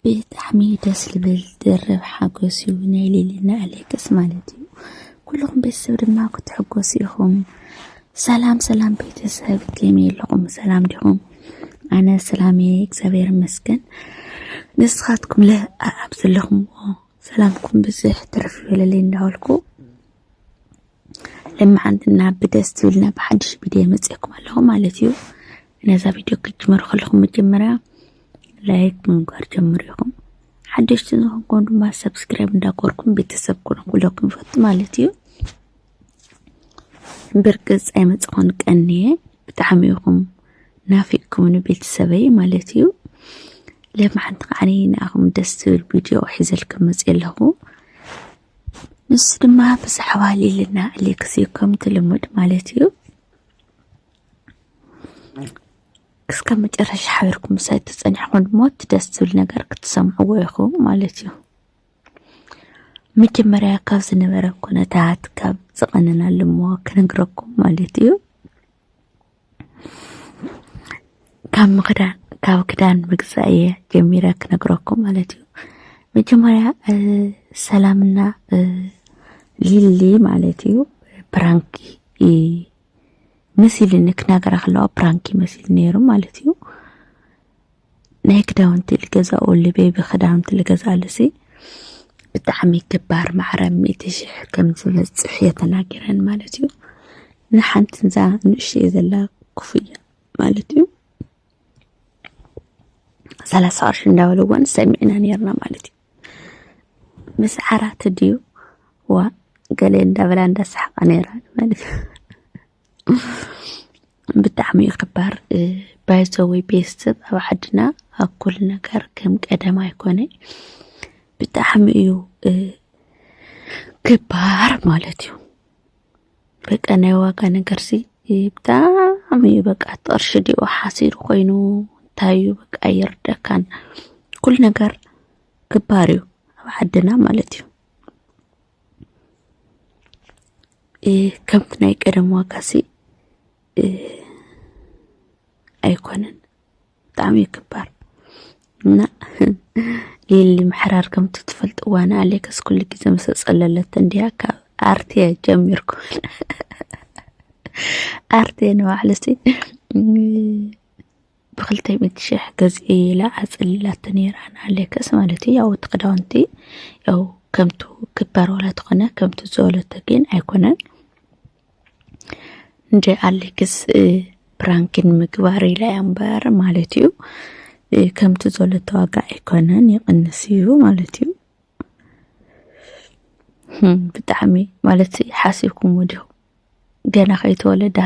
ብጣዕሚ ደስ ልብል ድርብ ሓጎስ እዩ ናይ ሊሊና ኣሌክስ ማለት እዩ ኩልኹም ቤተሰብ ድማ ክትሕጎሱ ኢኹም ሰላም ሰላም ቤተሰብ ከመይ ኣለኹም ሰላም ዲኹም ኣነ ሰላም እየ እግዚኣብሔር ይመስገን ንስኻትኩም ለ ኣብ ዘለኹምዎ ሰላምኩም ብዝሕ ትርፍ ይበለለይ እንዳበልኩ ልምዓትና ብደስ ዝብልና ብሓድሽ ቪድዮ መፅኤኩም ኣለኹ ማለት እዩ ነዛ ቪድዮ ክትጅመሩ ከለኹም መጀመርያ ላይክ ምግባር ጀምሩ ኢኹም ሓደሽቲ ዝኾንኩም ድማ ሰብስክራይብ እንዳኮርኩም ቤተሰብ ኮነ ኩለኩም ይፈቱ ማለት እዩ ብርግፅ ኣይመፅኹን ቀንየ ብጣዕሚ ኢኹም ናፊቅኩምኒ ቤተሰበይ ማለት እዩ ለማሓንቲ ከዓኒ ንኣኹም ደስ ዝብል ቪድዮ ሒዘልኩም መፅእ ኣለኹ ንሱ ድማ ብዛዕባ ሊልና ኣሌክስ እዩ ከምቲ ልሙድ ማለት እዩ እስከ መጨረሻ ሓቢርኩም ምሳይ እትፀኒሕኩም ድማ እቲ ደስ ዝብል ነገር ክትሰምዕዎ ኢኹም ማለት እዩ መጀመርያ ካብ ዝነበረ ኩነታት ካብ ዝቐነናሉ እሞ ክነግረኩም ማለት እዩ ካብ ምክዳን ካብ ክዳን ምግዛእ እየ ጀሚረ ክነግረኩም ማለት እዩ መጀመርያ ሰላምና ሊሊ ማለት እዩ ፕራንክ መሲልኒ ክነገራ ከለዋ ፕራንክ ይመስል ነይሩ ማለት እዩ ናይ ክዳውንቲ ልገዛኡ ልቤቢ ክዳውንቲ ልገዛሉሲ ብጣዕሚ ክባር ማዕረ ሚእቲ ሽሕ ከም ዝበጽሕ እየ ተናጊረን ማለት እዩ ንሓንቲ እዛ ንእሽተይ ዘላ ክፍያ ማለት እዩ ሰላሳ ቅርሺ እንዳበለዎን ሰሚዕና ነርና ማለት እዩ ምስ ዓራት ድዩ ዋ ገለ እንዳበላ እንዳሰሓቃ ነይራ ማለት እዩ ብጣዕሚ እዩ ክባር ባይዘወይ ቤተሰብ ኣብ ዓድና ኣብ ኩሉ ነገር ከም ቀደም ኣይኮነ ብጣዕሚ እዩ ክባር ማለት እዩ በቃ ናይ ዋጋ ነገር ሲ ብጣዕሚ እዩ በቃ ጥቕርሺ ዲኦ ሓሲሩ ኮይኑ እንታይ እዩ በቃ ይርደካን ኩሉ ነገር ክባር እዩ ኣብ ዓድና ማለት እዩ ከምቲ ናይ ቀደም ዋጋሲ ኣይኮነን ብጣዕሚ እዩ ክባር እና ሌሊ ምሕራር ከምቲ ትፈልጥዋ ንኣሌክስ ኩሉ ግዜ ምስ ጸለለት እንዲያ ካብ ኣርቴ ጀሚርኩ ኣርቴ ንባዕሉሲ ብክልተ ሚእቲ ሽሕ ገዝኢ ኢላ ኣጸሊላቶ ነይራ ንኣሌክስ ማለት እዩ። ያው እቲ ክዳውንቲ ያው ከምቱ ክበር ዋላ ተኾነ ከምቱ ዝበለቶ ግን ኣይኮነን እንደ ኣሌክስ ፕራንክን ምግባር ኢላ እያ እምበር ማለት እዩ። ከምቱ ዘለቶ ዋጋ ኣይኮነን ይቕንስ እዩ ማለት እዩ። ብጣዕሚ ማለት ሓሲብኩም ወዲኹም ገና ከይተወለደ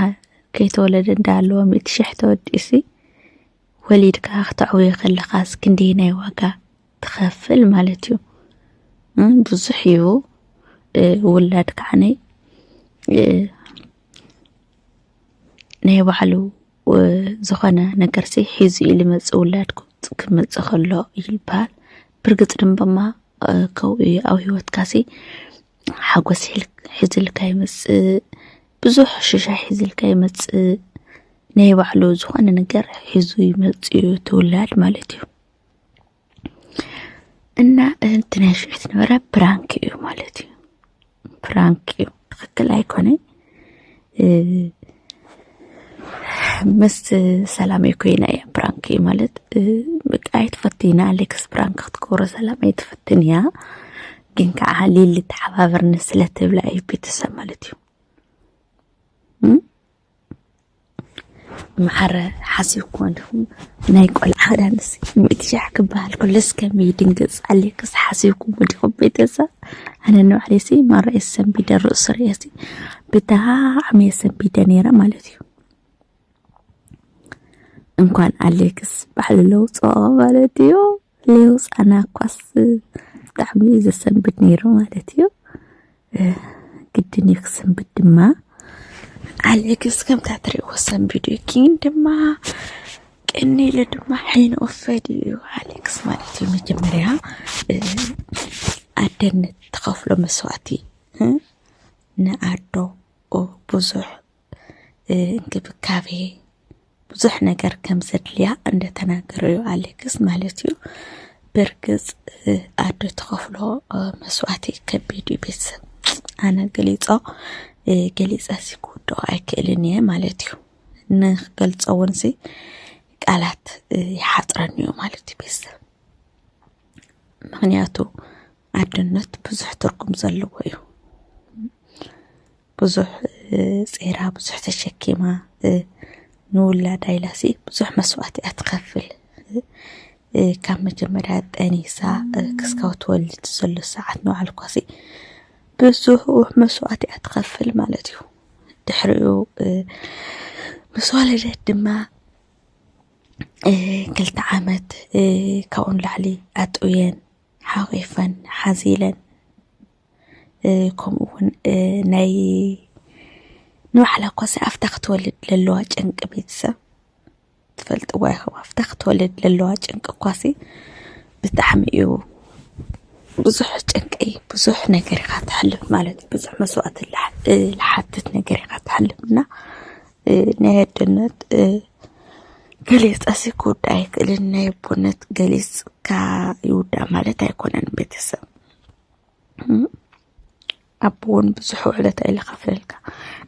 ከይተወለደ እንዳሃለወ ሚእቲ ሽሕ ተወዲእሲ ወሊድካ ክተዕውዮ ከለኻስ ክንደይ ናይ ዋጋ ትኸፍል ማለት እዩ ብዙሕ እዩ ውላድ ከዓነይ ናይ ባዕሉ ዝኾነ ነገርሲ ሒዙ እዩ ልመፅእ ውላድ ክመፅእ ከሎ ይልበሃል ብርግፅ ድምበማ ከምኡ እዩ ኣብ ሂወትካሲ ሓጎስ ሒዝልካ ይመፅእ ብዙሕ ሽሻይ ሒዝልካ ይመፅእ ናይ ባዕሉ ዝኾነ ነገር ሒዙ ይመፅእ እዩ እቲ ውላድ ማለት እዩ። እና እቲ ናይ ሽዑ ዝነበረ ፕራንክ እዩ ማለት እዩ ፕራንክ እዩ ትክክል ኣይኮነ ምስ ሰላም ኮይና እያ ፕራንክ እዩ ማለት በቃ ኣይትፈትይና ኣሌክስ ፕራንክ ክትገብሮ ሰላም ኣይትፈትን እያ ግን ከዓ ሊሊ ተሓባበርኒ ስለትብላ እዩ ቤተሰብ ማለት እዩ መዓረ ሓሲብኩሞ እንዲኹም ናይ ቆልዓ ክዳንስ ሚእቲ ሻሕ ክበሃል ከሎ እስከም ይድንግፅ ኣልክስ ሓሲብኩሞ እንዲኹም ቤተሰብ ኣነ ንባዕለይሲ ማራ እየ ሰንቢደ ርእሱ ርእየሲ ብጣዕሚ እየ ሰንቢደ ነይረ ማለት እዩ እንኳን ኣሌክስ ባዕሉ ለውፅኦ ማለት እዩ ሌው ጻና እኳስ ብጣዕሚ እዩ ዘሰንብድ ነይሩ ማለት እዩ ግድን እዩ ክሰንብድ ድማ ኣሌክስ ከምታ ትሪእዎ ሰንቢዱ እዩ ግን ድማ ቅኒ ኢሉ ድማ ሕይኑ ወፈድ እዩ ኣሌክስ ማለት እዩ መጀመርያ ኣደነት ትኸፍሎ መስዋእቲ ንኣዶ ብዙሕ እንክብካቤ ብዙሕ ነገር ከም ዘድልያ እንደተናገረ እዩ ኣሌክስ ማለት እዩ። ብርግፅ ኣዶ ትኸፍሎ መስዋእቲ ከቢድ እዩ ቤተሰብ ኣነ ገሊፆ ገሊፀ ሲ ክውድኦ ኣይክእልን እየ ማለት እዩ ንክገልፆ እውን ሲ ቃላት ይሓፅረኒ እዩ ማለት እዩ ቤተሰብ ምክንያቱ ኣድነት ብዙሕ ትርጉም ዘለዎ እዩ ብዙሕ ጼራ ብዙሕ ተሸኪማ ንውላዳ ኢላ ሲ ብዙሕ መስዋእቲ እያ ትኸፍል ካብ መጀመርያ ጠኒሳ ክስካብ ትወልድ ዘሎ ሰዓት ንባዕሉ እኳሲ ብዙሕ መስዋእቲ እያ ትኸፍል ማለት እዩ ድሕሪኡ ምስ ወለደት ድማ ክልተ ዓመት ካብኡ ንላዕሊ ኣጥውየን ሓቂፈን ሓዚለን ከምኡ እውን ናይ ንባዕላ ኳሲ ኣፍታ ክትወልድ ለለዋ ጭንቂ ቤተሰብ ትፈልጥዋ ኢኹም ኣፍታ ክትወልድ ለለዋ ጭንቂ ኳሲ ብጣዕሚ እዩ ብዙሕ ጭንቂ ብዙሕ ነገር ኢኻ ትሕልፍ ማለት እዩ ብዙሕ መስዋእቲ ልሓትት ነገር ኢኻ ትሕልፍ እና ናይ ኣደነት ገሊፀሲ ክውዳ ኣይክእልን ናይ ኣቦነት ገሊፅካ ይውዳ ማለት ኣይኮነን ቤተሰብ ኣቦ እውን ብዙሕ ውዕለት እዩ ዝኸፍለልካ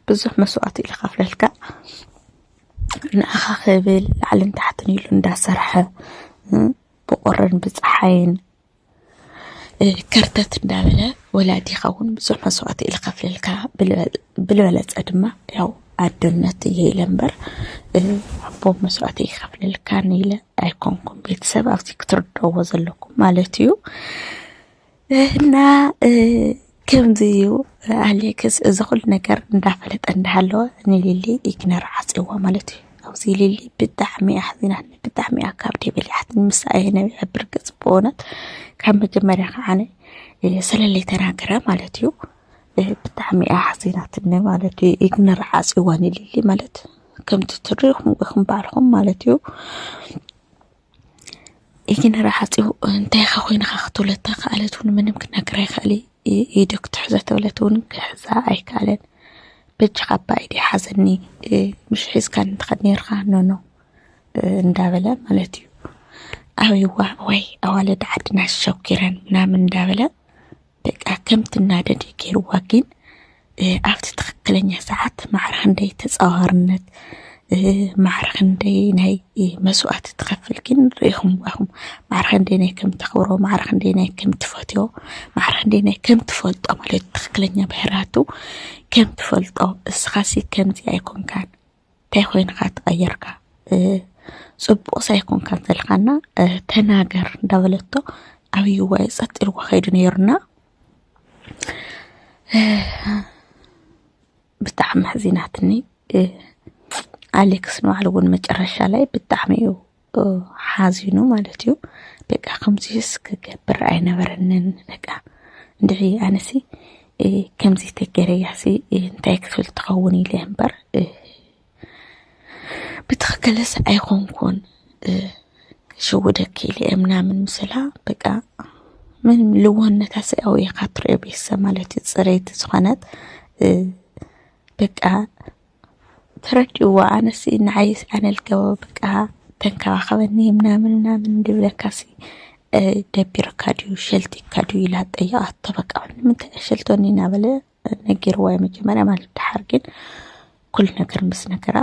ብዙሕ መስዋእቲ እዩ ዝኸፍለልካ ንዓኻ ክብል ላዕልን ታሕትን ኢሉ እንዳሰርሐ ብቁርን ብፀሓይን ከርተት እንዳበለ ወላዲኻ እውን ብዙሕ መስዋእቲ እዩ ዝኸፍለልካ ብልበለፀ ድማ ያው ኣዶነት እየ ኢለ እምበር ኣቦ መስዋእቲ ይኸፍለልካን ኢለ ኣይኮንኩም ቤተሰብ ኣብዚ ክትርድእዎ ዘለኩም ማለት እዩ እና ከምዚ እዩ ኣሌክስ እዚ ኩሉ ነገር እንዳፈለጠ እንዳሃለወ ንሊሊ ኢግነር ዓፅይዋ ማለት እዩ። ኣብዚ ሊሊ ብጣዕሚ እያ ሓዚናኒ ብጣዕሚ እያ ካብ ደይ በሊዓትኒ ምሳ እየ ነቢዐ ብርግፅ ብእውነት ካብ መጀመርያ ከዓነ ሰለለይ ተናገረ ማለት እዩ። ብጣዕሚ እያ ሓዚናትኒ ማለት እዩ። ኢግነር ዓፅይዋ ንሊሊ ማለት ከምቲ ትሪኢኹም ኢኹም ባዕልኹም ማለት እዩ። ኢግነር ዓፂው እንታይ ኢኻ ኮይንኻ ክትብሎ እንተኸኣለት እውን ምንም ክነግራ ኣይክእል እዩ። ኢዱ ክትሕዞ እንተበለት እውን ክሕዛ ኣይከኣለን። በጃኻ እባ ኢደይ ሓዘኒ ምሽ ሒዝካኒ ትኸድ ነይርካ ኖኖ እንዳበለ ማለት እዩ። ኣበይዋ ወይ ኣዋልድ ዓድና ሸኪረን ምናምን እንዳበለ በቃ ከም ትናደድ እዩ ገይርዋ። ግን ኣብቲ ትኽክለኛ ሰዓት ማዕረ ክንደይ ተፃዋርነት ማዕረ ክንደይ ናይ መስዋእቲ ትኸፍል ግን ርኢኹም ዋኹም ማዕረ ክንደይ ናይ ከም ተኽብሮ ማዕረ ክንደይ ናይ ከም ትፈትዮ ማዕረ ክንደይ ናይ ከም ትፈልጦ ማለት ትኽክለኛ ብሕራቱ ከም ትፈልጦ እስኻሲ ከምዚ ኣይኮንካን እንታይ ኮይንካ ተቐይርካ ፅቡቕስ ኣይኮንካን ዘለኻና ተናገር እንዳበለቶ ዓብይዋ እዩ ፀጥ ኢልዎ ከይዱ ነይሩና ብጣዕሚ መሕዚናትኒ ኣሌክስ ንባዕሉ እውን መጨረሻ ላይ ብጣዕሚ እዩ ሓዚኑ ማለት እዩ በቃ ከምዚስ ክገብር ኣይነበረንን በቃ እንድዒ ኣነሲ ከምዚ ተገረያሲ እንታይ ክፍል ትኸውን ኢለ እምበር ብትኽክልስ ኣይኾንኩን ሽውደኪ ኢለ ምናምን ምስላ በቃ ምንም ልውህነታ ስያው ኢኻ ትሪኦ ቤተሰብ ማለት እዩ ፅረይቲ ዝኾነት በቃ ተረዲእዎ ኣነሲ ንዓይ ኣነል ገበብቃ ተንከባኸበኒ ምናምን ምናምን እንድብለካሲ ደቢርካ ድዩ ሸልቲካ ድዩ ኢላ ጠየቓቶ። በቃ ንምንታይ ኣሸልቶኒ እናበለ ነጊርዋ እዩ መጀመርያ ማለት ድሓር ግን ኩሉ ነገር ምስ ነገራ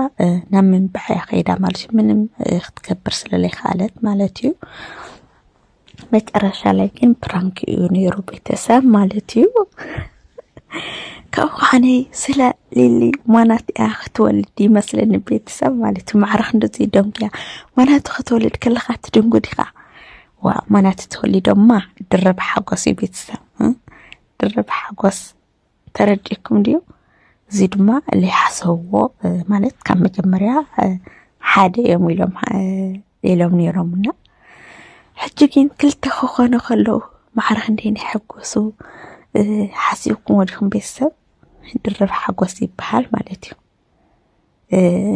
ናብ ምንባዕ እያ ከይዳ ማለት እዩ ምንም ክትገብር ስለለይከኣለት ማለት እዩ መጨረሻ ላይ ግን ፕራንክ እዩ ነይሩ ቤተሰብ ማለት እዩ። ካብኡ ከዓኒ ስለ ሊሊ ማናት እያ ክትወልድ ይመስለኒ ቤተሰብ ማለት እዩ። ማዕረ ክንድዚ ደንጉያ ማናቱ ክትወልድ ከለካ ትድንጉድ ኢኻ። ዋ ማናቱ ተወሊዶማ ድርብ ሓጎስ እዩ ቤተሰብ ድርብ ሓጎስ ተረዲእኩም ድዩ? እዚ ድማ ዘይሓሰብዎ ማለት ካብ መጀመርያ ሓደ እዮም ኢሎም ኢሎም ነይሮምና ሕጂ ግን ክልተ ክኾኑ ከለዉ ማዕረ ክንደይ ንሕጎሱ ሓሲብኩም ወዲኹም ቤተሰብ ድርብ ሓጎስ ይበሃል ማለት እዩ።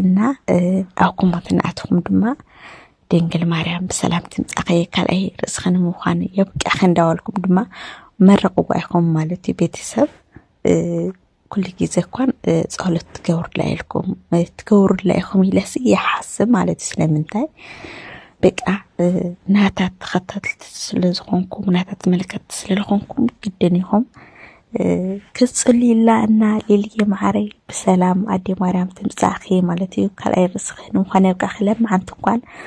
እና ኣብ ኩሞት እናኣተኹም ድማ ድንግል ማርያም ብሰላም ትምፃእኺ ካልኣይ ርእስኺ ንምዃን የብቅዕኺ እንዳበልኩም ድማ መርቕዋ ኢኹም ማለት እዩ ቤተሰብ ኩሉ ግዜ እኳን ፀሎት ትገብሩላ ኢልኩም ትገብሩላ ኢኹም ኢለሲ ይሓስብ ማለት እዩ ስለምንታይ በቃ ናታ ተኸታተልቲ ስለ ዝኾንኩም ናታ ተመልከትቲ ስለ ዝኾንኩም ግድን ኢኹም ክጽልዩላ እና ሊልየ መዓረይ ብሰላም ኣዴ ማርያም ትምጻእኺ ማለት እዩ ካልኣይ ርእስኺ ንምዃን የብቃዕኺ ለማዓንቲ እንኳን